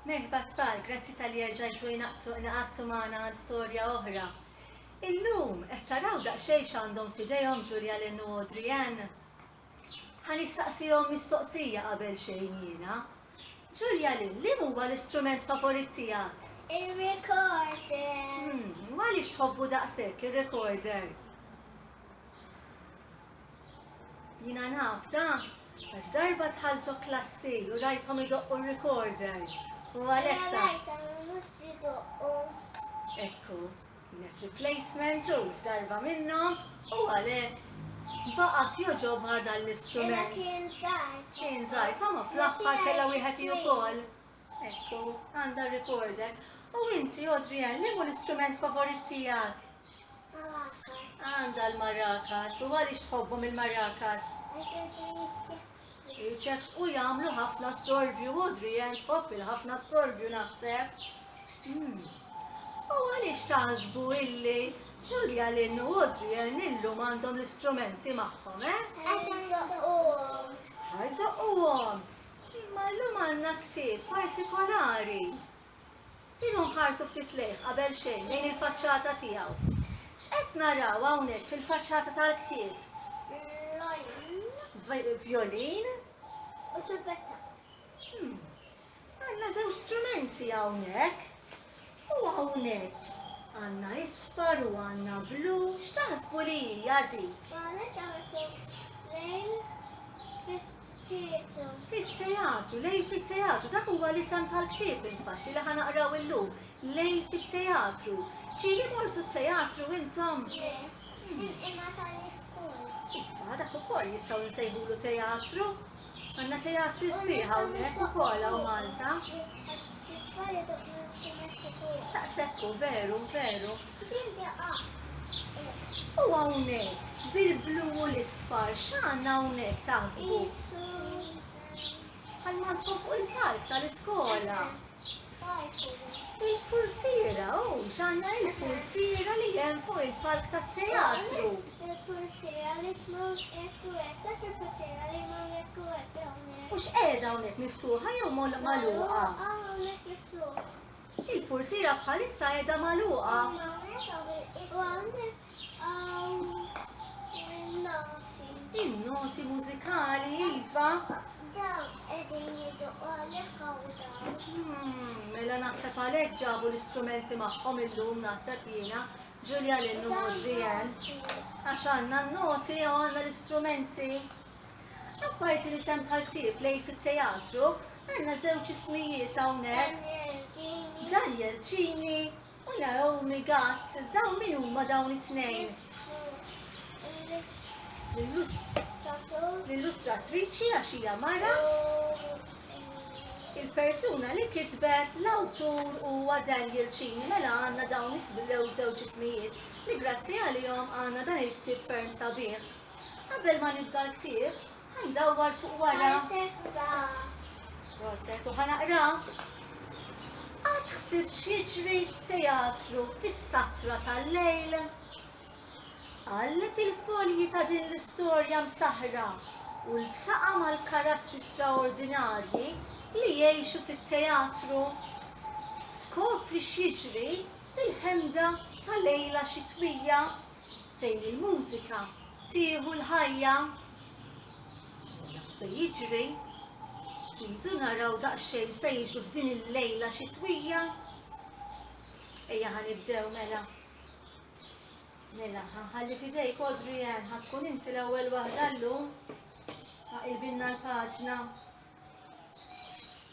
Merħba tfal, grazzi talli erġajtu ingħaqadtu magħna għal storja oħra. Illum qed taraw daqsxejn x'għandhom f'idejhom Julia Lynn u Audrey Ann? Ħa nistaqsihom mistoqsija qabel xejn jiena. Julia Lynn, li huwa l-istrument favorit tiegħek? Ir-recorder. Għaliex tħobbu daqshekk ir-recorder? Jiena naf da, għax darba tħalltu klassi u rajthom idoqqu r-recorder. U għalhekk sa. Ekku, kienet replacement u darba minnhom u għalhekk baqgħet joġobha dan l-istrument. Kien żgħir, sama fl-aħħar kellha wieħed ukoll. Ekku, għandha r-recorder. U inti, Adrian, liemu l-istrument favorit tiegħek? Għandha l-maracas. U għaliex tħobbhom il-maracas? Iċeċ u jagħmlu ħafna storbju, Adrian, tħobb il-ħafna storbju naħseb. Hmm. U għaliex taħsbu illi Ġulja Lynn u Adrian illum għandhom l-istrumenti magħhom, eh? Għax għandhom. Għax għandhom. Imma llum għandna ktieb partikolari. Ejjew nħarsu ftit lejh qabel xejn, lejn il-faċċata tiegħu. X'qed naraw hawnhekk fil-faċċata tal-ktieb? Vjolin. Vjolin. U ċurbetta. Hmm. Għandna żewġ strumenti hawnhekk. U hawnhekk għandna isfar u għandna blu, x'taħsbu li hija dik? Qalet artist lejn fit-teatru. Fit-teatru, lejn fit-teatru, dak huwa l-isem tal-ktieb infatti li ħanaqraw illum, lejn fit-teatru. Ġieli mortu t-teatru intom? Le, hmm. il-qima tal-iskun. Iva, dak ukoll jistgħu nsejħulu teatru. Għandna teatri sbieħ hawnhekk ukoll hawn Malta. Taqsekku, veru, veru. U hawnhekk, bil-blu u l-isfar, x'għandna hawnhekk taħsbu? Għal-mandkom fuq il-palk tal-iskola. Il-purtiera, oh, x'għandna il-purtiera li hemm fuq il-palk tat-teatru. Il-purtiera li tmur hekk u hekk, dak il-purtiera li jmur hekk u hekk hawnhekk. U x'qiegħda hawnhekk miftuħa jew mol magħluqa? Hawnhekk miftuħa. Il-purtiera bħalissa qiegħda magħluqa. U hawnhekk hawn il-qisem. U hawnhekk Il-noti mużikali, Iva. Dawn qegħdin jidu għalek hmm, Mela naħseb għalhekk ġabu l-istrumenti magħhom illum naħseb jiena Ġulja l u Adrian. Għax għandna n-noti u għandna l-istrumenti. Apparti li sem bħal-ktib lej fit-teatru, għandna żewġ ismijiet hawnhekk. Daniel Ċini U Naomi gat, dawn min huma dawn it-tnejn? L-illustratriċi għax hija mara. Il-persuna li kitbet l-awtur huwa Daniel Cini mela għandna dawn isbilew żewġ ismijiet li grazzi għalihom għandna dan il-ktieb ferm sabiħ. Qabel ma nibda l-ktieb, Ħandawwar fuq wara. Proset, u ħanaqra. Għad ħsib xieġri teatru fis-satra tal-lejl. Għalleb il-folji ta' din l-istorja msaħra u l-taqa mal-karattri straordinarji li jgħixu fit-teatru. Skopri xieġri fil-ħemda ta' lejla xitwija. fejn il-mużika tieħu l-ħajja. U naf se jiġri, tridu naraw daqsxejn se jiġu f'din il-lejla xitwija. Ejja ħanibdew mela. Mela, ħalli fidejk kodri jen, ħatkun inti l-ewwel waħda llum. Aqilbilna l-paġna.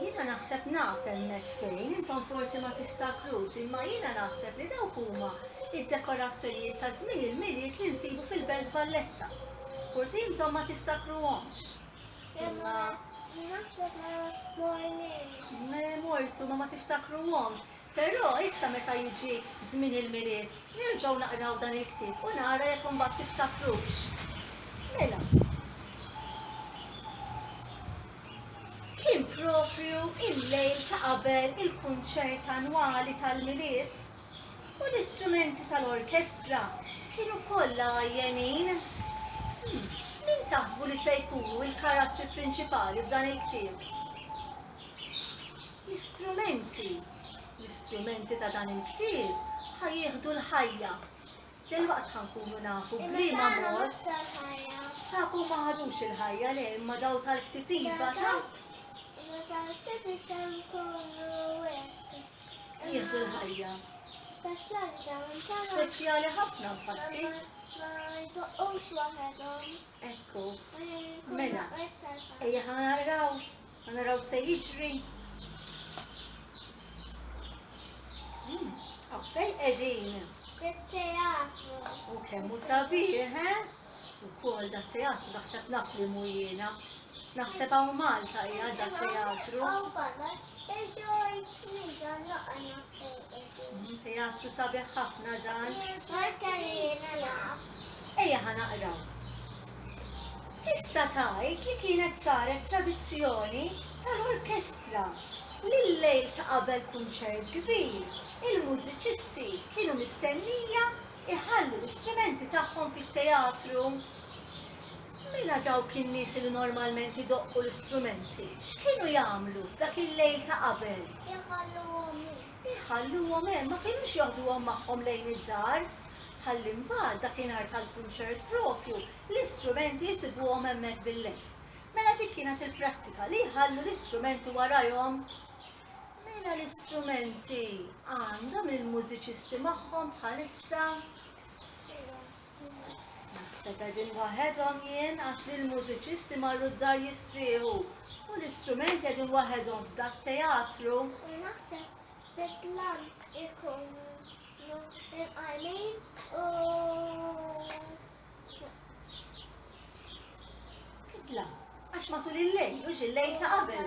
Jiena naħseb naf hemmhekk fejn, intom forsi ma tiftakrux, imma jiena naħseb li dawk huma d-dekorazzjonijiet ta' żmien il-Milied li nsibu fil-Belt Valletta. Forsi intom ma tiftakruhomx. Imma Naħseb ma morniex. Le mortu, ma ma tiftakruhomx. Però issa meta jiġi żmien il-Milied, nerġgħu naqraw dan il-ktieb u nara jekk imbagħad tiftakrux. Mela, kien proprju il-lejl ta' qabel il-kunċert annwali tal-Milied u l-istrumenti tal-orkestra kienu kollha għajjenin. Hm, min taħsbu li se jkunu l-karattri prinċipali f'dan il-ktieb? L-istrumenti, L-istrumenti ta' dan il-ktieb ħa jieħdu l-ħajja. Delwaqt ħa nkunu nafu b'liema mod. Tagħkom ma ħadux il-ħajja le imma daw tal-ktieb iva ta' jieħdu l-ħajja. Speċjali ħafna infatti. Ekku. Mela, ejja ħa naraw Ħa naraw x'se jiġri. Hmm, Għaffej qegħdin. Il-teatru. U kemm hu sabiħ, he? Ukoll da teatru naħseb naf li mhu jiena. Naħseb hawn Malta hija da teatru. Hmm, teatru sabiħ ħafna dan. Ejja ħa naqraw. Tista' tgħid li kienet saret tradizzjoni tal-orkestra li l-lejl ta' qabel kunċert kbir, il-mużiċisti kienu mistennija jħallu l-istrumenti tagħhom fit-teatru. Mela dawk in-nies li normalment idoqqu l-istrumenti x'kienu jagħmlu dak il-lejl ta' qabel? Iħalluhom Iħalluhom hemm, ma kinux joħduhom magħhom lejn id-dar, ħalli mbagħad dakinhar tal-kunċert proprju l-istrumenti jsibuhom hemmhekk bil-lest. Mela dik kienet il-prattika li jħallu l-istrumenti warajhom. Mela l-istrumenti għandhom il-mużiċisti magħhom bħalissa? Kont qegħdin waħedhom jien għax li l-mużiċisti marru d-dar jistrieħu u l-istrumenti qegħdin waħedhom f'dak teatru. Idla, għax matul il-lejl, mhux il-lejl ta' qabel.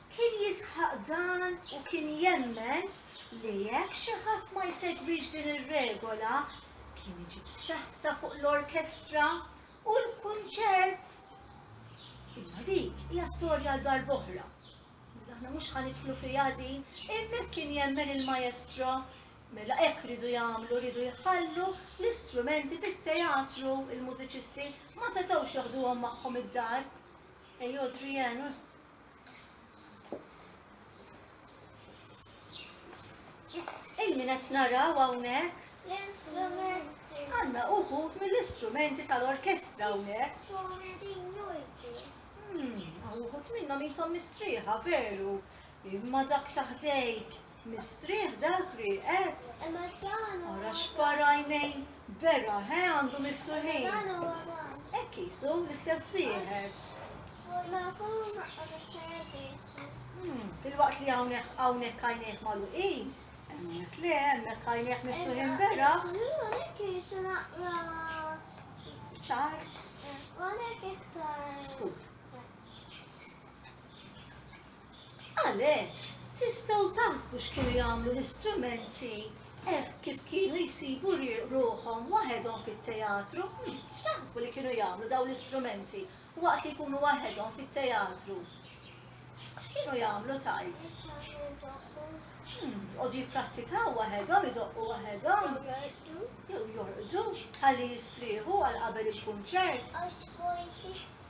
Kien jisħaq dan u kien jemmen li jekk xi ħadd ma jsegwix din ir-regola, kien iġib saħta fuq l-orkestra u l-kunċert. Imma dik hija storja għal darb'oħra. Aħna mhux ħa nidħlu fiha din, hemmhekk kien jemmen il-maestro Mela hekk ridu jagħmlu, ridu jħallu l-istrumenti fit-teatru il-mużiċisti ma setgħux joħduhom magħhom id-dar. Ej Adrienne, Il-min qed naraw hawnhekk? Għanna uħut mill-istrumenti tal-orkestra hawnhekk. Hmm, uħut minnhom jisom mistrieħa veru. Imma dak taħdejk Mistrieħ dak li qed? Ara x'par għajnejn beraħ, he, għandu miftuħin. Hekk qisu l-istess wieħed. Hmm, filwaqt li hawnhekk hawnhekk għajnejh magħluqin, hemmhekk le, hemmhekk għajnejh miftuħin beraħ. ċar. Għalek iktar. Għalhekk, tistgħu taħsbu x'kienu jagħmlu l-istrumenti hekk kif kienu jsibu ruħhom waħedhom fit-teatru? X'taħsbu li kienu jagħmlu dawn l-istrumenti waqt li jkunu waħedhom fit-teatru? X'kienu jagħmlu tgħid? Joqogħdu jipprattikaw waħedhom, idoqqu waħedhom, jew jorqdu ħalli jistrieħu għal qabel il-kunċert.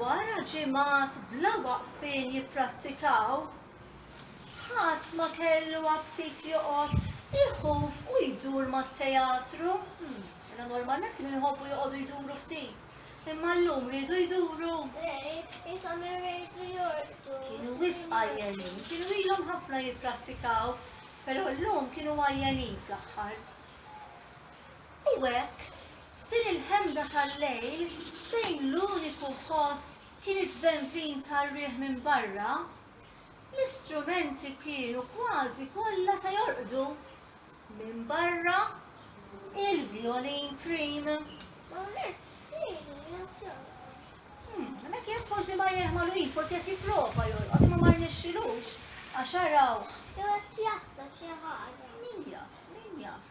Wara ġimgħat bla waqfien jipprattikaw, ħadd ma kellu aptit joqgħod iħuf u jdur mat-teatru. Mela normalment kienu jħobbu joqogħdu jduru ftit, imma llum riedu jduru. Ishom irridu jorqdu. Kienu wisq għajjenin, kienu ilhom ħafna jipprattikaw, però llum kienu għajjenin fl-aħħar. U hekk F'din il-ħemda tal-lejl, fejn l-uniku ħoss kien iż-żbenvin tar-riħ minn barra, l-istrumenti kienu kważi kollha se jorqdu. Minn barra, il-vjolin prim. Hemmhekk jien forsi ma jieħ mal-win, forsi qed jipprova jorqod imma ma rnexxilux għax araw. Jew qed jaħseb xi ħaġa. Min jaf, min jaf.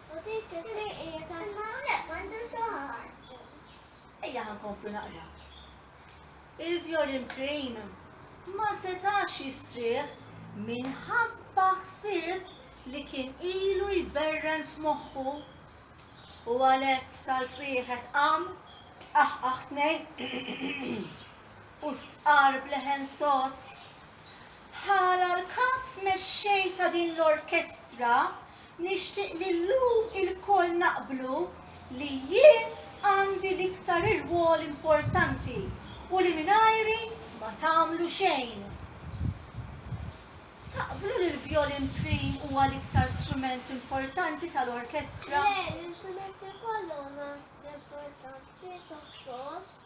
U dik isir qiegħed hemm hawnhekk m'għandu xi Ejja ħa nkomplu naqra. Il-Vjolin Train ma setax jistrieħ minħabba ħsieb li kien ilu jberren f'moħħu u għalhekk salt wieħed qam aħ aħ tnejn u stqarb leħen sod. Ħala l-kap mexxej ta' din l-orkestra Nixtieq li llum ilkoll naqblu li jien għandi l-iktar irwol importanti u li mingħajri ma tagħmlu xejn. Taqblu li l-vjolin prim huwa l-iktar strument importanti tal-orkestra? Le, l-istrumenti kollha huma importanti suppost.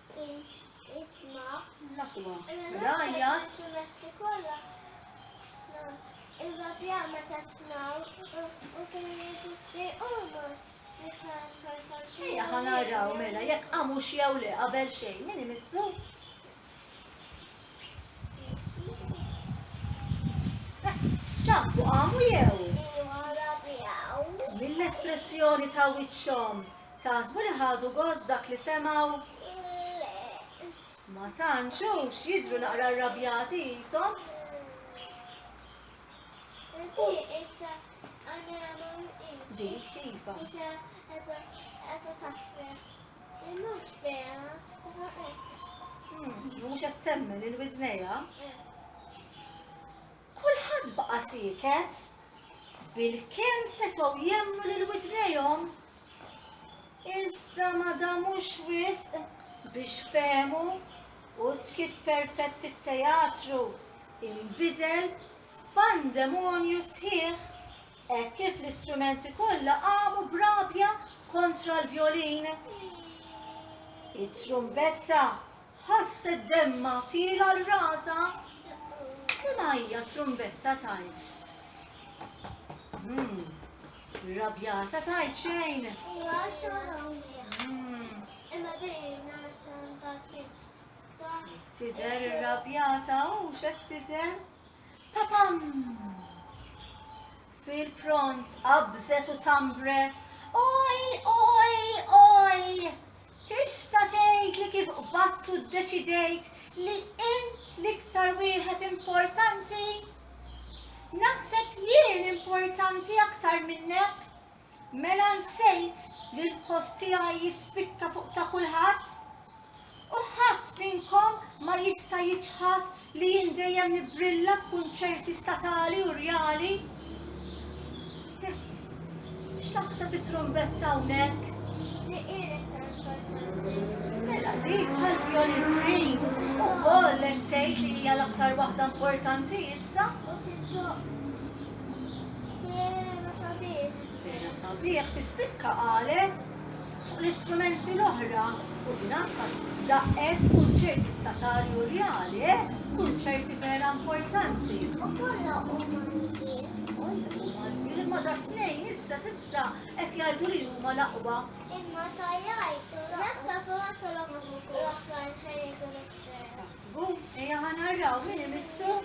Ejja ħanaraw mela jekk għamux jew le qabel xejn, min imissu? X'taħsbu qamu jew? Iva rabjaw. Mill-espressjoni ta' wiċċhom, taħsbu li ħadu gost dak li semgħu? Le. Ma tantx hux jidhru naqra rrabjati qishom. Dik iva. Mhux vera, imma hekk. Mhux qed temmen lil widnejha. Kulħadd baqa' sieket bilkemm setgħu jemmnu lil widnejhom. Iżda ma damux wisq biex fehmu u skit perfett fit-teatru imbidel f'pandemonju sħiħ Hekk kif l-istrumenti kollha qamu b'rabja kontra l-vjolin, it-trumbetta ħasset demmha tiela' għal rasha. Liema hija t-trumbetta tgħid? Hmm, rabjata tgħid xejn? Hmm. Tidher irrabjata u x'hekk tidher? Papam! Fil-pront qabżet u sambret, oj, oj, oj! Tista' tgħid li kif qbattu ddeċidejt li int l-iktar wieħed importanti? Naħseb jien importanti aktar minnek, Mela nsejt li l-post tiegħi jispikka fuq ta' kulħadd? U ħadd minnkom ma jista' jiċħad li jien dejjem nibbrilla f'kunċerti statali u rjali? X'taħseb it-trumbetta hawnhekk? Mela dik tal-vjolin green ukoll qed tgħid li hija l-aktar waħda importanti issa? Jena sabiħ. Jena sabiħ tispikka qalet fuq l-istrumenti l-oħra u din anka daqqet kunċerti statali u reali, eh? kunċerti vera importanti. U kollha huma Imma da tnejn issa sissa qed jgħidu li huma l-aqwa. Imma ta' jgħid, jekk ta' fuq kellhom l-oħrajn fejn jgħidu l-istess. Ejja ħanarraw min imissu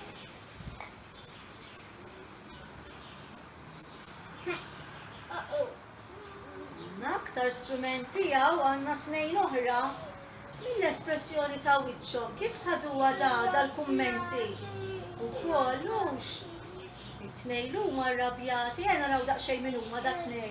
L-aktar strument tiegħu għandna tnejn oħra mill-espressjoni ta' wiċċhom kif ħaduha da dal-kummenti. U kollux it-tnejn huma rrabjati, għena raw daqsxejn minn huma da tnejn.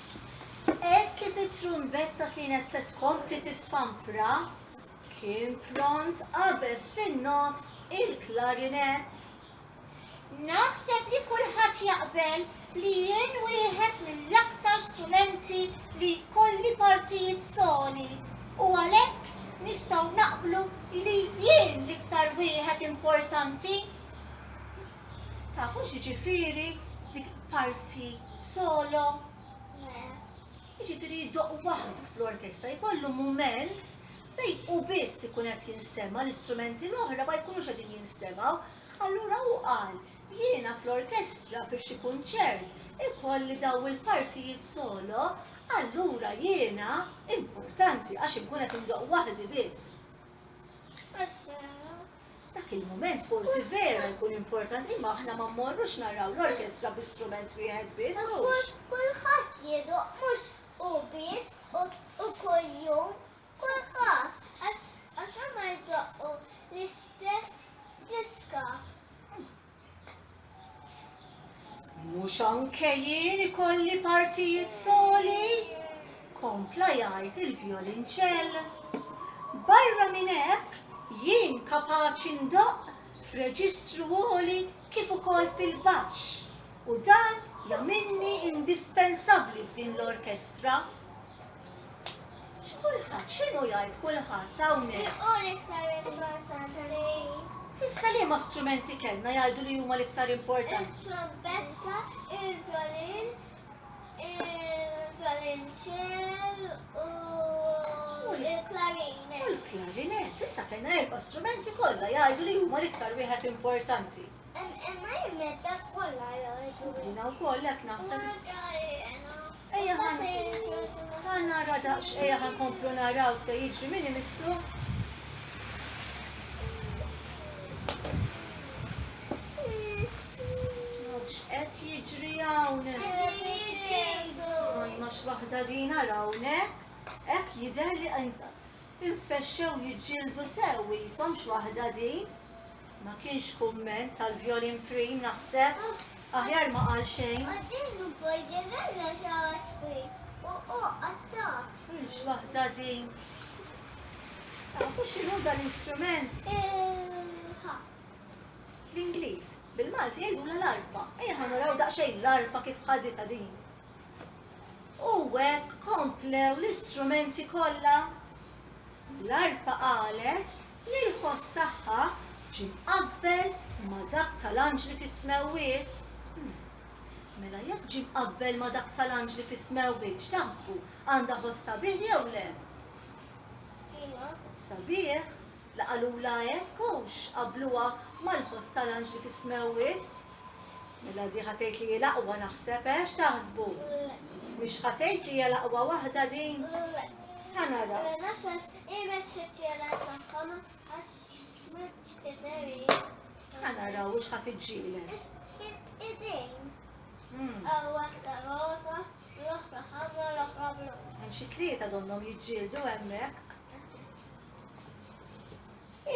Hekk kif it-trumbetta kienet se tkompli tiffampra, kien pront qabeż fin-nofs il-klarinett. Naħseb li kulħadd jaqbel li jien wieħed mill-aktar strumenti li jkolli partijiet soli u għalhekk nistgħu naqblu li jien l-iktar wieħed importanti. Tafu x'jiġifieri dik parti solo? Jiġifieri jiddoq waħdu fl-orkestra, jkollu mument fejn hu biss ikun qed jinstema' l-istrumenti l-oħra ma jkunux qegħdin jinstemgħu. Allura hu qal, jiena fl-orkestra fi xi kunċert ikolli daw il-partijiet solo, allura jiena importanti għax inkun qed indoqq waħdi biss. Dak il-moment forsi vera jkun importanti ma aħna ma mmorrux naraw l-orkestra bi strument wieħed biss. Kulħadd jiedu mhux u biss u kuljum kulħadd għax ma jdoqqu l-istess diska. Mhux anke jien ikolli partijiet soli, kompla jgħid il-vjolinċell. Barra minn hekk, jien kapaċi ndoqq f'reġistru għoli kif ukoll fil-baxx u dan jagħmilni indispensabbli f'din l-orkestra. X'kulħadd? X'inhu jgħid kulħadd hawnhekk? X'inhu l-iktar importanti? S'issa liema strumenti kellna jgħidu li huma l-iktar importanti? Il-trombetta, il-violin, il-violonċell u l-klarinet. U l-klarinet, s'issa kellna erba' strumenti kollha jgħidu li huma l-iktar wieħed importanti. Imma jemmetta kollha jgħidu. Jina wkoll hekk naħseb. Ejja ħan nara daqs, ejja ħan komplu naraw se jiġri min imissu. Qed jiġri hawn. Ma x'waħda din hawnhekk, hekk jidher li infexxew jiġġieldu sew, jisom x'waħda din. Ma kienx kumment għal Vjolin Prim naħseb, aħjar ma qal xejn. Hux waħda din. Tafu x'inhu dan l-istrument? L-Ingliż. Bil-Malti jgħidula l-arpa. Ejja ħa naraw daqsxejn l-arpa kif ħaditha din. U hekk komplew l-istrumenti kollha. L-arpa qalet li l-ħoss tagħha ġie mqabbel ma' dak tal-anġli fis-smewwiet? Mela jekk ġie mqabbel ma' dak tal-anġli fis-smewwiet, x'taħsbu, għandha ħoss sabiħ jew le? Iva. Sabiħ? La qalulha hekk, hux qabbluha mal-ħoss tal-anġli fis-smewwiet? Mela di ħa tgħid li hi l-aqwa naħseb, eh, x'taħsbu? Le. Mhix ħa tgħid li hija l-aqwa waħda din? Le. Ħa naraw. Ibex it-tielet tagħhom għax mhux tideri. Għana raw u xħat iġġielek. Idejn. Għaw waħda rosa, l-oħra ħamra, l-oħra blu. Hemm xi tlieta donnhom jiġġieldu hemmhekk.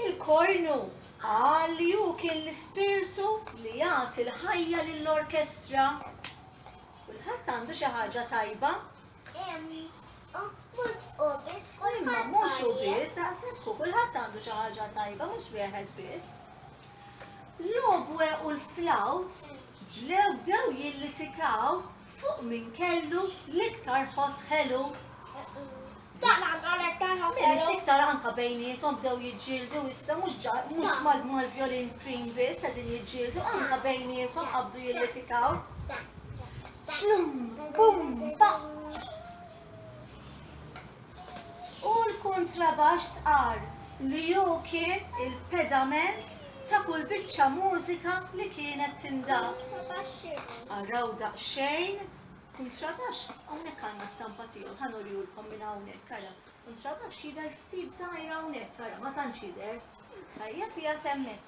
Il-kornu qal li hu kien l-ispirtu li jagħti l-ħajja lill-orkestra. Kulħadd għandu xi ħaġa tajba Imma mhux u biss, daqshekk hu kulħadd għandu xi ħaġa tajba, mhux wieħed biss. L-obwe u l-flawt bdew bdew jillitikaw fuq min kellu l-iktar ħoss ħelu. Minis iktar anka bejnietom bdew jiġġieldu issa mhux ġa- mhux mal- mal-violin prim biss qegħdin jiġġieldu anka bejnietom qabdu jillitikaw. U l-kuntrabaxx stqarr li hu kien il-pedament ta' kull biċċa mużika li kienet tindab. Araw daqsxejn kuntrabaxx, hawnhekk għandna stampa tiegħu, ħa nurihulkom minn hawnhekk ara. Kuntrabaxx jidher ftit żgħir hawnhekk ara, ma tantx jidher. Tajjeb jgħid hemmhekk.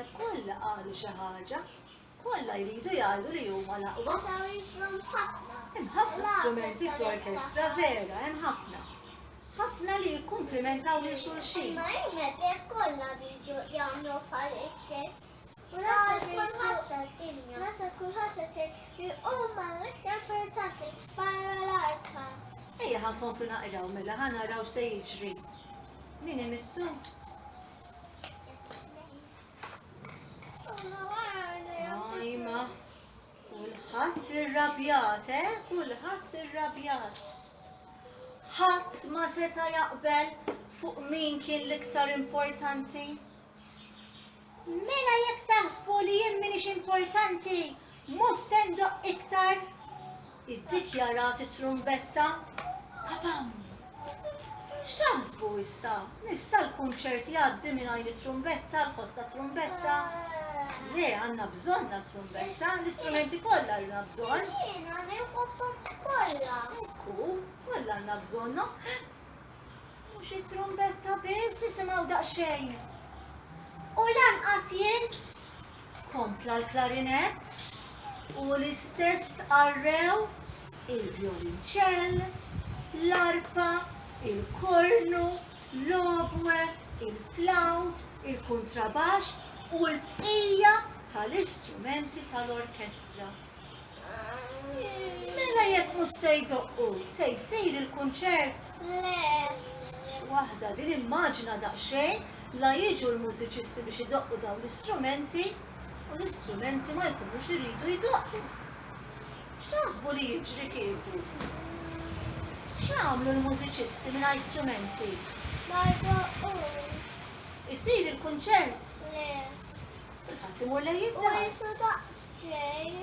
Naħseb kollha qalu xi ħaġa. Kollha jridu jgħidu li huma l-aqwa. Hemm ħafna strumenti fl-orkestra vera, hemm ħafna. Ħafna li jikkumplimentaw lil xulxin. Ejja ħankomplu naqraw mela ħa naraw se jiġri. Min imissu? Ajma, kulħadd irrabjat, eh? Kulħadd irrabjat. Ħadd ma seta' jaqbel fuq min kien l-iktar importanti. Mela jekk taħsbu li jien m'iniex importanti, mhux se ndoqq iktar! iddikjarat it-trumbetta. Pabam! X'taħsbu issa? Nista' l-kunċert jgħaddi mingħajr it-trumbetta, l-ħoss ta' trumbetta? Le, għandna bżonn ta' trumbetta, l-istrumenti kollha għandna bżonn. Jiena nieħu kollha. Ekku, kollha għandna bżonnhom. Mhux it-trumbetta biss isimgħu daqsxejn. U lanqas jien kompla l-klarinett u l-istess tqarrew il-vjolinċell, l-arpa, il-kornu, l-obwe, il-flawt, il-kuntrabaxx u l-bqija tal-istrumenti tal-orkestra. Mela jekk mhux se jdoqqu, se jsir il-kunċert? Le. Waħda din immaġina daqsxejn la jiġu l-mużiċisti biex idoqqu dawn l-istrumenti u l-istrumenti ma jkunux iridu jdoqqu. X'taħsbu li jiġri kieku? X'jagħmlu l-mużiċisti mingħajr strumenti? Ma jdoqqu. Isir il-kunċert? Le. Ħadd imur lejn id-dar. Isu daqsxejn.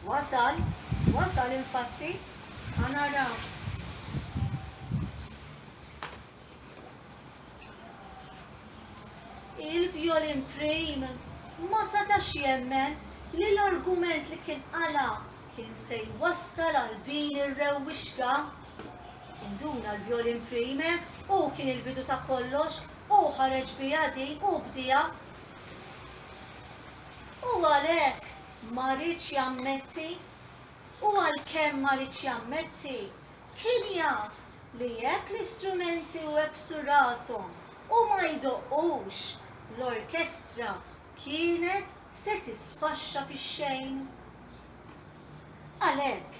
Wasal, wasal infatti. Ħa naraw. Il-violin prim ma setax jemmen li l-argument li kien qala kien se jwassal għal din ir-rewwixta. Induna l-violin prime, hu kien il-bidu ta' kollox, hu ħareġ biha din, hu bdiha. Hu għalhekk ma riedx jammetti, u għalkemm ma riedx jammetti, kien jaf li jekk l-istrumenti webbsu rashom u ma jdoqqux, l-orkestra kienet se tisfaxxa fix-xejn. Għalhekk,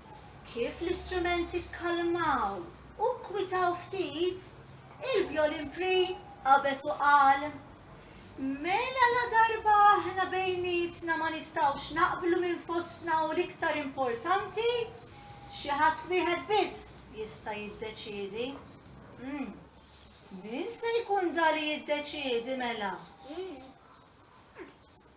Kif l-istrumenti kkalmaw u kkwitaw ftit, il-vjolin Pri qabeż u qal, Mela ladarba aħna bejnietna ma nistgħux naqblu minn fostna hu l-iktar importanti, xi ħadd wieħed biss jista' jiddeċiedi. Umm, min se jkun da li jiddeċiedi mela?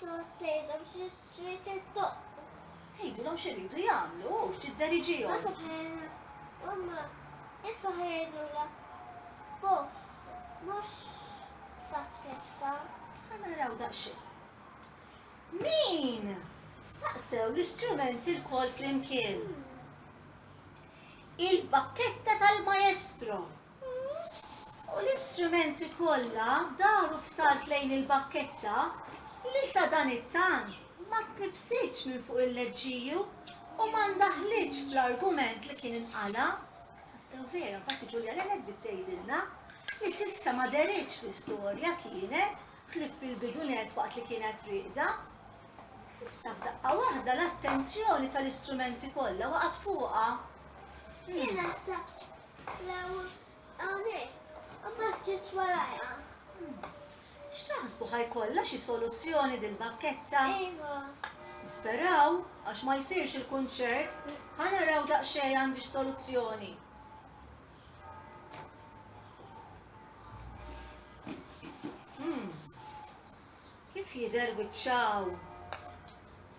Tgħod tgħidhom xi trid intoqgħod. Tgħidilhom x'iridu jagħmlu u tidderigihom. Għax aħjar huma issa ħejjilha boss mhux saċċessa. Ħa naraw daqsxejn. Min staqsew l-istrumenti lkoll flimkien? Il-bakketta tal-maestro. u l-istrumenti kollha daru b'salt lejn il-bakketta li sadanittant ma tnibbsitx minn fuq il-leġġiju u ma ndaħħlitx bl-argument li kien inqala'. Tassew vera, infatti Ġulja Lened bdiet tgħidilna li s'issa ma dehritx fl-istorja kienet, ħlief fil-bidunett waqt li kienet rieqda. Issa f'daqqa waħda l-attenzjoni tal-istrumenti kollha waqgħet fuqha. Tlew hawnhekk u basġet warajha. X'taħsbu ħa jkollha xi soluzzjoni dil-bakketta? Iva. Nisperaw għax ma jsirx il-kunċert, ħa naraw daqsxejn għandi x'soluzzjoni. Hmm. Kif jidher wiċċaw?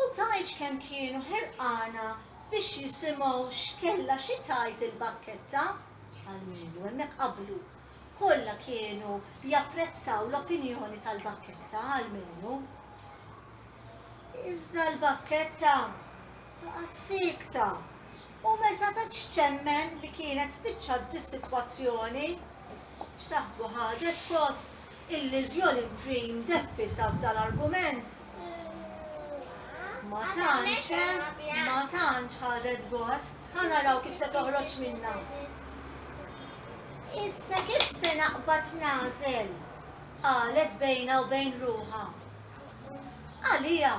U tgħidx kemm kienu ħerqana biex jisimgħu x'kellha xi tgħid il-bakketta! Almenu hemmhekk qablu. Kollha kienu japprezzaw l-opinjoni tal-bakketta, almenu. Iżda l-bakketta baqgħet siekta. U me setgħetx temmen li kienet spiċċat dis-sitwazzjoni. X'taħsbu ħadet post illi l-violin dream deppisa b'dan argument? Ma tantx, eh? Ma tantx ħadet gost. Ħa naraw kif se toħroġ minna. Issa kif se naqbad nażel? qalet bejna u bejn ruħha. Għalija,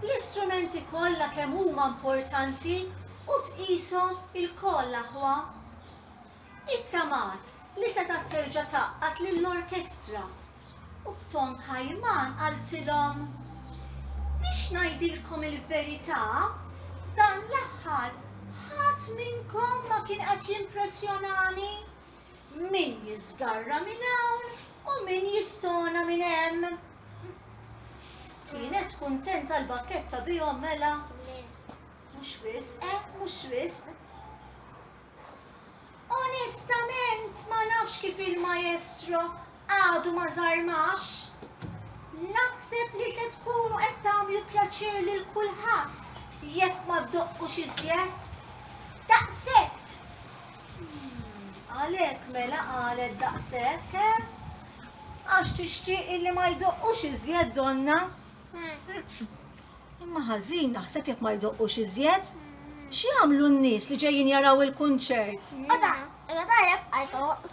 l-istrumenti kollha kemm huma importanti u tqishom ilkoll aħwa. Ittamaat li setgħet terġa' tgħaqqad lill-orkestra u b'ton kajman qaltilhom, Biex ngħidilkom il-verità, dan l-aħħar ħadd minnkom ma kien qed jimpressjonani. Min jiżgarra minn hawn u min jistona minn hemm. Kienet kuntenta l-bakketta bihom mela? Le. Mhux wisq, eh, mhux wisq. Onestament ma nafx kif il-maestro Għadu ma żarmax? Naħseb li se tkunu qed tagħmlu pjaċir lil kulħadd jekk ma ddoqqux iżjed. Daqshekk! Għalhekk mela qalet daqshekk, eh? Għax tixtieq illi ma jdoqqux iżjed donna. Imma ħażin naħseb jekk ma jdoqqux iżjed. X'jagħmlu n-nies li ġejjin jaraw il-kunċert? Għada, għada jibqa' jdoqq.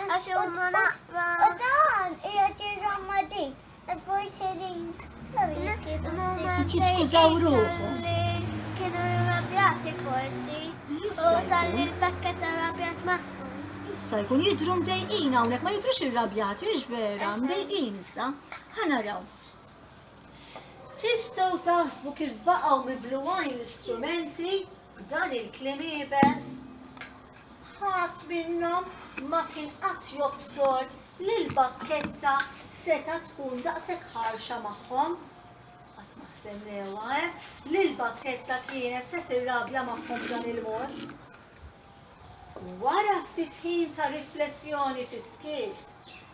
Għax huma naqra. U dan qiegħed jiżamma din. Forsi din. Jiskużaw ruħu. Kienu rabjati forsi. U tal-li l-pakket tal-rabjat maħsu. Issa jkun jidru mdejqin hawnhekk ma jidrux irrabjati, hiex vera, mdejqin issa. Ħanaraw. Tistgħu taħsbu kif baqgħu mibluwajn l-istrumenti b'dan il-klim ibes? Ħadd minnhom ma kien qatt jobsor li l-bakketta setgħet tkun daqshekk ħarxa magħhom. Qatt ma stennewha, eh, li l-bakketta kienet se tirrabja magħhom b'dan il-mod. Wara ftit ħin ta' riflessjoni fis-skiet,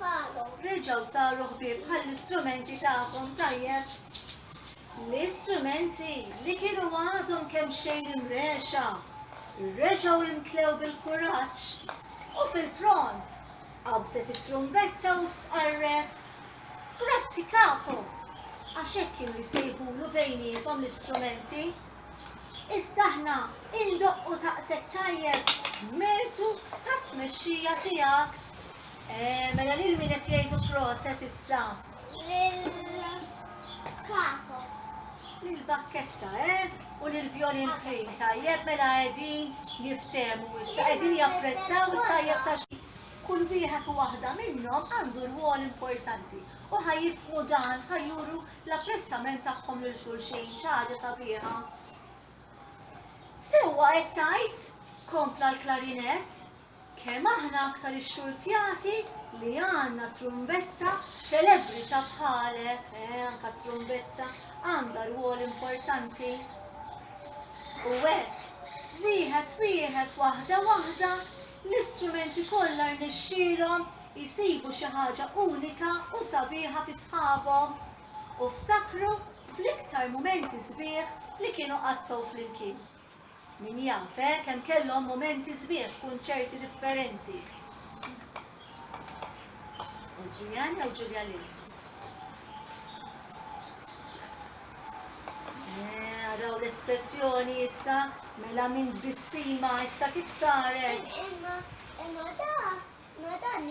Palo. Reġgħu saru ħbieb bħall-istrumenti tagħkom, tajjeb? L-istrumenti li kienu għadhom kemxejn imrexha, reġgħu imtlew bil-kuraġġ u fil-pront qabżet it-trumbetta u stqarret, Grazzi Kapo! Għax hekk kienu jsejħulu bejniethom l-istrumenti. Iżda aħna indoqqu taqsek tajjeb b'mertu tat-tmexxija tiegħek. Mela lil min qed jgħidu proset issa? Lil Capo. Lil Bakketta, eh? U lil Violin Cream, tajjeb mela qegħdin jiftehmu issa, qegħdin japprezzaw it-tajjeb ta' xi. Kull wieħed u waħda minnhom għandu rwol importanti u ħa jifhmu dan, ħa juru l-apprezzament tagħhom lil xulxin, xi ħaġa sabiħa. Sewwa qed tgħid, kompla l-klarinett, Kemm aħna aktar ixxurtjati li għandna trumbetta ċelebbri ta' bħalek, eh, anke t-trumbetta għandha rwol importanti. U hekk, wieħed wieħed waħda waħda, l-istrumenti kollha rnexxielhom jisibu xi ħaġa unika u sabiħa fi sħabhom u ftakru fl-iktar mumenti sbieħ li kienu qattgħu flimkien. Min jaf, eh, kemm kellhom mumenti sbieħ f'kunċerti differenti. Adrian jew Julia Lynn? Naraw l-espressjoni issa, mela minn bissima issa kif saret. Imma, imma da, ma dan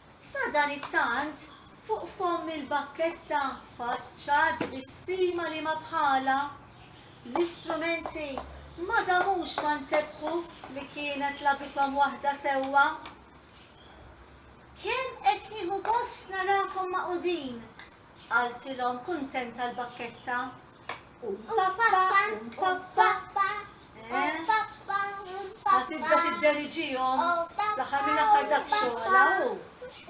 Sadanittant, fuq fomm il-bakketta faċċat bis-sima li ma bħalha, l-istrumenti ma damux ma nsebbħu li kienet lagħbithom waħda sewwa. Kemm qed nieħu gost narakom magħqudin Qaltilhom kuntenta l-bakketta. Tibda tidderġihom l-aħħar minn aħħar dak xogħla u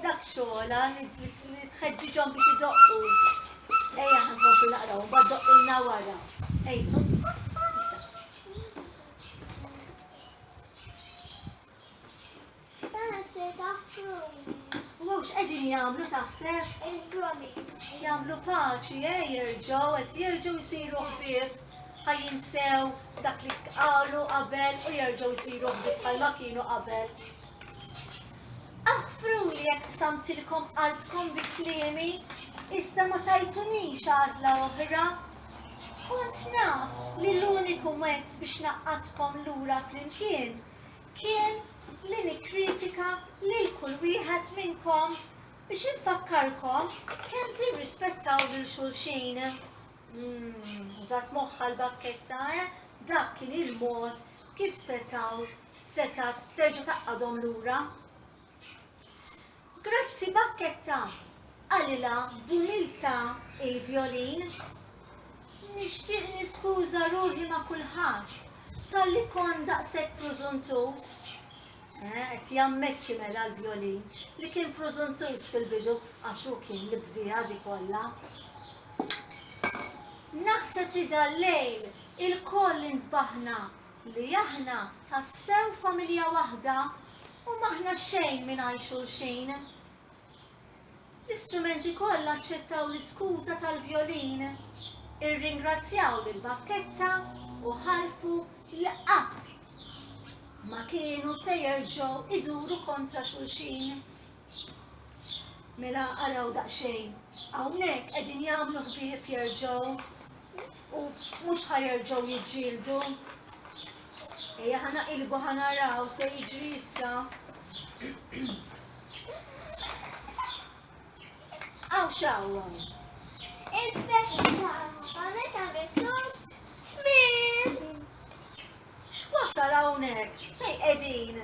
dak xogħla li tħeġġiġhom biex idoqqu. Ejja ħankomplu naqraw, mbagħad doqqilna wara. Ejja. Mhux qegħdin jagħmlu taħseb? Jagħmlu paċi, eh, jerġgħu qed jerġgħu jsiru ħbieb ħajjin sew dak li qalu qabel u jerġgħu jsiru ħbieb bħalma kienu qabel. Aħfru li jekk samtilkom qalbkom bi kliemi, iżda ma tajtunix għażla oħra. Kont naf li l-uniku mezz biex naqqatkom lura flimkien kien li nikkritika lil kull wieħed minnkom biex infakkarkom kemm tirrispettaw lil xulxin. Mm, użat moħħa l-bakketta, eh? Dak kien il-mod kif setaw setat terġa' taqqadhom lura. Grazzi Bakketta! qalilha b'umiltà il-vjolin. Nixtieq niskuża ruħi ma' kulħadd talli kont daqshekk prużuntuż. Eh, qed jammetti mela l-vjolin li kien prużuntuż fil-bidu għax hu kien li bdieha di kollha. Naħseb li dal-lejl ilkoll intbaħna li aħna tassew familja waħda u m'aħna xejn mingħajr xulxin. L-istrumenti kollha aċċettaw l-iskuża tal-vjolin, irringrazzjaw lil Bakketta u ħalfu li qatt ma kienu se jerġgħu iduru kontra xulxin. Mela araw daqsxejn, hawnhekk qegħdin jagħmlu ħbieb jerġgħu u mhux ħa jerġgħu jiġġieldu. Ejja ħa naqilbu ħa naraw se jiġri issa. Aw xawwa. Il-festa ma meta miktub X'wassal hawnhekk? Fejn qegħdin?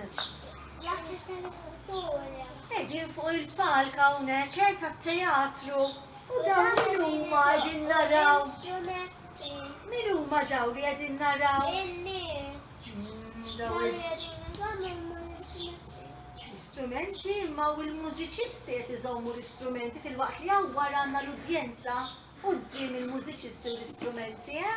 Qegħdin fuq il-palk hawnhekk eh, tat-teatru u dawn min huma qegħdin naraw? Min huma daw li qegħdin naraw? L-istrumenti imma u l-mużiċisti qed iżommu l-istrumenti fil-waqt li hawn wara għandna l-udjenza quddiem il-mużiċisti u l-istrumenti, eh?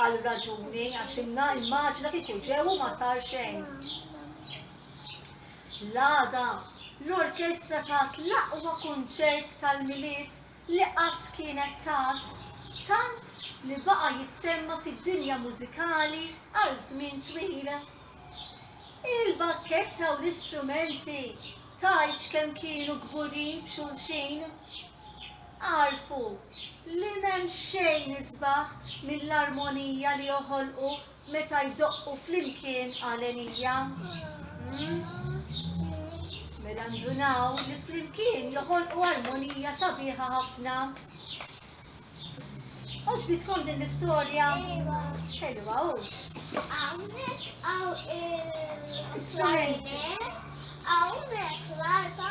Għal raġuni għax inna immaġina kieku ġew u ma sar xejn. L-għada, l-orkestra tat l-aqwa kunċert tal-Milied li qatt kienet tat, tant li baqa' jissemma fid-dinja mużikali għal żmien twil. Il-bakketta u l-istrumenti tgħidx kemm kienu kburin b'xulxin. Agħrfu li m'hemm xejn isbaħ mill-armonija li joħolqu meta jdoqqu flimkien għalenija. Mela ndunaw li flimkien joħolqu armonija sabiħa ħafna. Oġbitkom din l-istorja? Ħelwa u. Għawnek għaw il-flajne, għawnek l-arba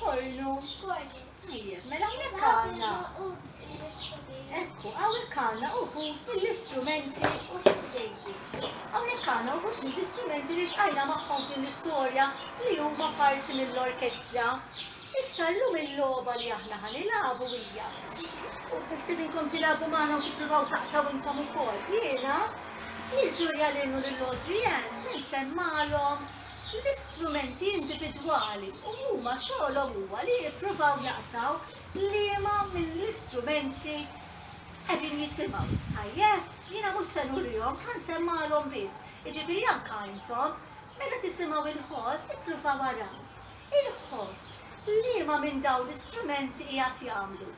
Kornu. Tajjeb, mela hawnhekk għandna. Ekku, hawnhekk għandna uħud mill-istrumenti u fil-dejti. Hawnhekk għandna uħud mill-istrumenti li tqajna magħhom din l-istorja li huma parti mill-orkestra. Issa llum il-logħba li aħna ħanilagħbu hija. U nistedinkom tilagħbu magħna u tippruvaw taqtaw intom ukoll. Jiena, il-ġurja l-innu l-lodri se nsemmalhom l-istrumenti individwali u huma xogħolhom huwa li jippruvaw jaqtaw liema mill-istrumenti qegħdin jisimgħu. Tajjeb? Jiena mhux se nurihom, ħa nsemmagħlhom biss. Jiġifieri anke intom, meta tisimgħu il-ħoss, ippruvaw araw. Il-ħoss, liema minn dawn l-istrumenti qiegħed jagħmlu?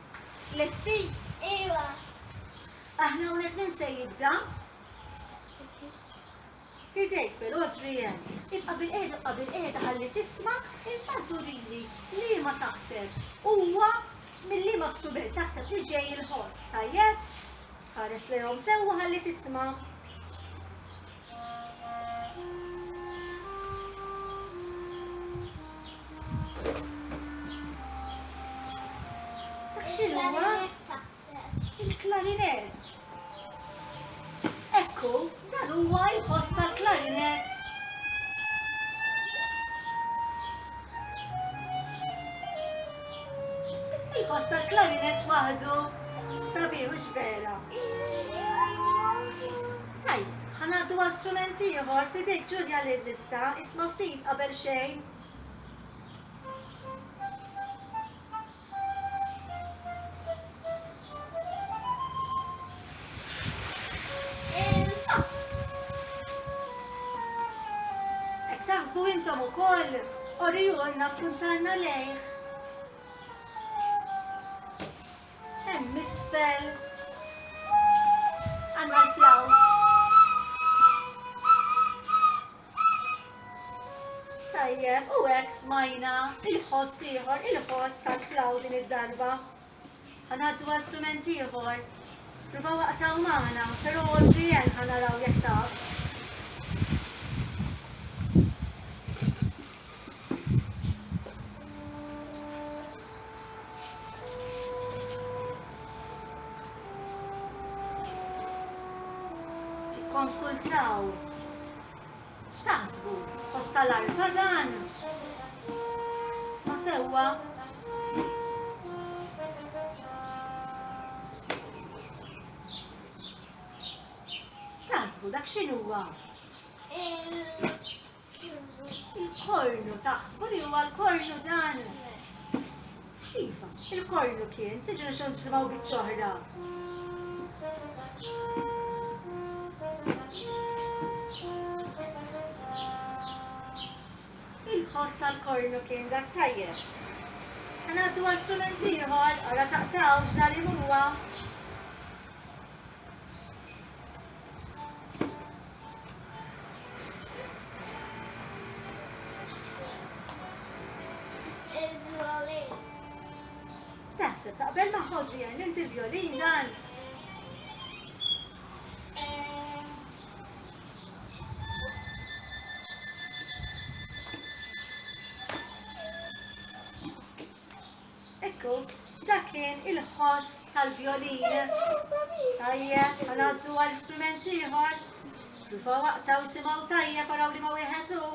Lesti? Iva. Aħna hawnhekk min se jibda? Idejk però Adrienne, ibqa' bilqiegħda ibqa' bilqiegħda ħalli tisma' imbagħad urili liema taħseb huwa minn liema strument taħseb li ġej il-ħoss, tajjeb? Ħares lejhom sewwa ħalli tisma'. Dak x'inhuwa? Il-klarinett. Ekku, dan huwa l-post tal-klarinett. Il-post tal-klarinett waħdu sabiħ u xbela. Tajb, ħanaddu għal strument ieħor fidejk Ġulja lil lissa isma' ftit qabel xejn. Taħsbu intom ukoll, orjulna f'kuntanna lejh. Hemm isfel. Għandna l-flawt. Tajjeb, u hekk smajna il-ħoss ieħor, il-ħoss ta' slaw din id-darba. Ħanaddu għal strument ieħor. Rubaw waqtaw magħna, però Adrienne ħanaraw jekk taf. Konsultaw. X'taħsbu? Fost tal-arka dan? Ma sewwa Taħsbu dak x'inhuwa? Il-kornu ta' li huwa l-kornu dan. Iva, il-kornu kien, tiġu nixu nisimaw bieċoħra. Il-ħoss tal-kornu kien dak tajjeb. Għanaddu għal strument ieħor, għara taqtawx dal-imur Taħseb taqbel ma' ħoġi għan inti l-violin dan? Ekku, dak kien il-ħoss tal-vjolin. Tajjeb, ħanaddu għal strument ieħor. Rufa waqta u simaw tajjeb għaraw li ma wieħed hu.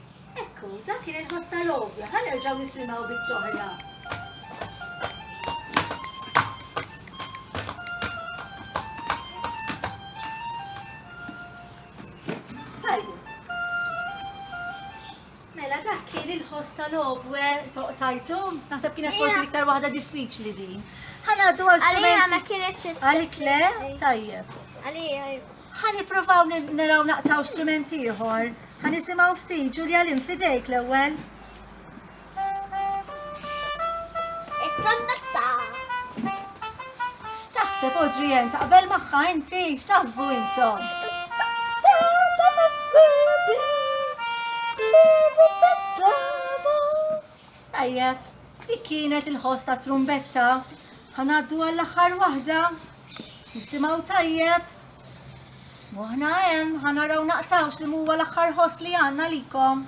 Ekku, dak kien il-ħoss tal-għodja, ħa nerġgħu nisimgħu biċ-ċoħra. Mela dak kien il-ħoss tal-obwe toqtajtu, naħseb kienet forsi l-iktar waħda diffiċli din. Ħana għaddu għal Għalija ma kienet Għalik le? Tajjeb. Għalija. Ħa nippruvaw naraw naqtaw strument ieħor. Ħa nisimgħu ftit Ġulja Lim fidejk l-ewwel. It-trombetta. X'taħseb Odrijen taqbel magħha inti? X'taħsbu intom? Tajjeb, dik kienet il-ħoss ta' trumbetta. Ħanaddu għall-aħħar waħda. Nisimgħu tajjeb? Moħna hemm, ħa naraw naqtawx li huwa l-aħħar ħoss li għandna likom.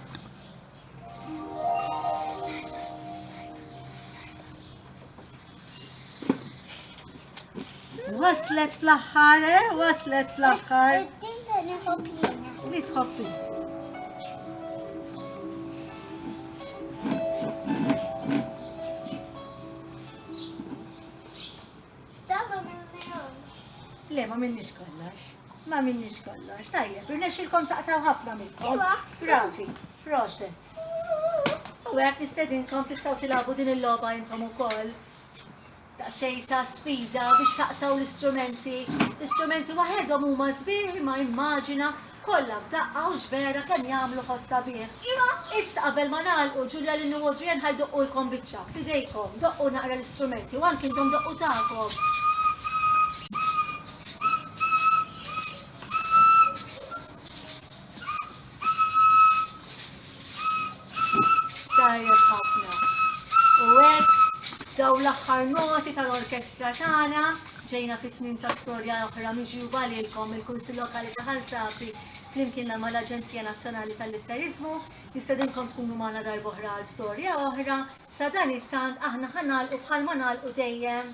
Waslet fl-aħħar, eh? Waslet fl-aħħar. Li tħobbi. Sa ma minnihomx. Le ma minniex kollox. Ma minniex kollox. Tajjeb, irnexxilkom taqtaw ħafna minnkom. Iva. Bravi, proset. U għek nistedinkom tistaw tilabu din il-loba intom ukoll daqsxejn ta' sfida biex taqtaw l-istrumenti. L-istrumenti waħedhom huma sbieħ imma immaġina Kollha f'daqqa hux vera kemm jagħmlu ħoss sabiħ! Iva, issa qabel ma nagħlqu, Julia Lynn u Audrey Ann ħa jdoqqulkom biċċa, f'idejkom, doqqu naqra l-istrumenti u anki intom doqqu tagħkom. Tajjeb ħafna. U hekk dawn l-aħħar noti tal-orkestra tagħna ġejna fi tmiem ta' storja oħra miġjuba lilkom mill-Kunsill Lokali ta' Ħal Safi flimkien mal-Aġenzija Nazzjonali tal-Litteriżmu. Nistedinkom tkunu magħna darb'oħra għal storja oħra. Sadanittant aħna ħa nagħlqu bħalma nagħlqu dejjem.